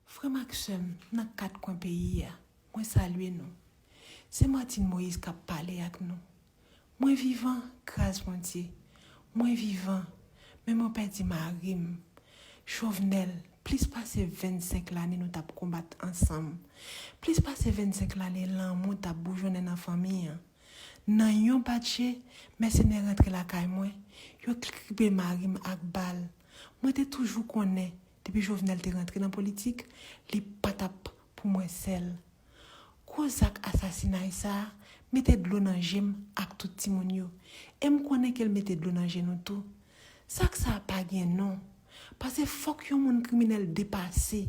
Frè m ak sè m nan kat kwen peyi a, mwen salye nou. Se Martine Moïse k ap pale ak nou. Mwen vivan, gras Bondye. Mwen vivan, men mwen pèdi mari m, Chauvenel, plis pase 25 lane nou t ap konbat ansanm, plis pase 25 lane lanmou t ap boujonnen nan fanmi an. Nan yon bat je, mèsenè rantre lakay mwen, yo kribe mari m ak bal. Mwen te toujou konnen depi Jovenel te rantre nan politik, li pa t ap pou mwen sèl. Gwo zak asasinay sa a mete dlo nan je m ak tout timoun yo, e m konnen ke l mete dlo nan je nou tou. Zak sa a pa gen non, pase fòk yon moun kriminèl depase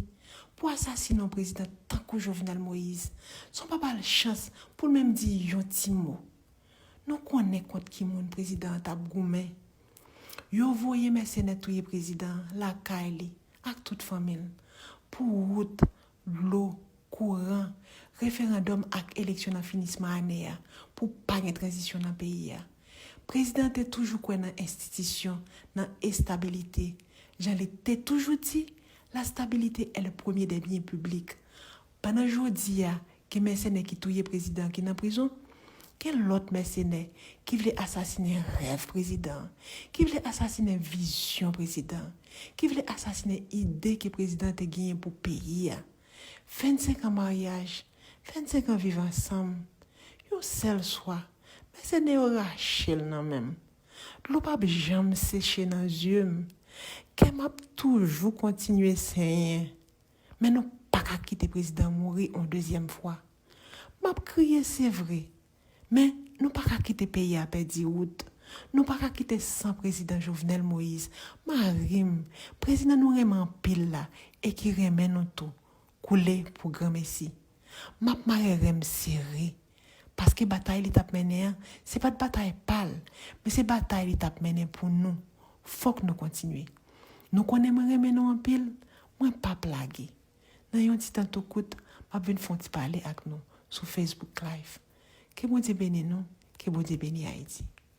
pou asasine yon prezidan tankou Jovenel Moïse san w pa ba l chans pou l menm di yon ti mo. Nou konnen kont ki moun prezidan an t ap goumen. Yo voye mèsenè touye prezidan lakay li ak tout fanmi l pou wout, dlo, kouran, referandòm ak eleksyon nan finisman ane a pou pa gen tranzisyon nan peyi a. Prezidan te toujou kwè nan enstitisyon, nan estabilite. Jan li te toujou di, la stabilité est le premier des biens publics. Pandan jodi a, gen mèsenè ki touye prezidan an ki nan prizon, gen lòt mèsenè ki vle asasinen rèv prezidan an, ki vle asasinen vizyon prezidan an, ki vle asasinen ide ke prezidan an te genyen pou peyi a. 25 an maryaj, 25 an viv ansanm, yon sèl swa, mèsenè yo rache l nan men m. Dlo p ap janm seche nan zye m. Kè m ap toujou kontinye senyen. Men nou paka kite prezidan mouri on dezyèm fwa. Map kriye se vre, men nou paka kite peyi a pèdi wout. Nou paka kite san prezidan Jovenel Moïse, mari m, prezidan nou renmen anpil la e ki renmen nou tou, koule pou granmesi. Map mare ren m sere. Paske batay li tap mennen an, se pat batay pa l, men se batay li tap mennen pou nou. Fòk nou kontinye. Nou konnen mwen renmen nou anpil, mwen pap lage. Nan yon ti tan tou kout, map vin fon ti pale ak nou sou Facebook Live. Ke Bondye beni nou, ke Bondye beni Ayiti.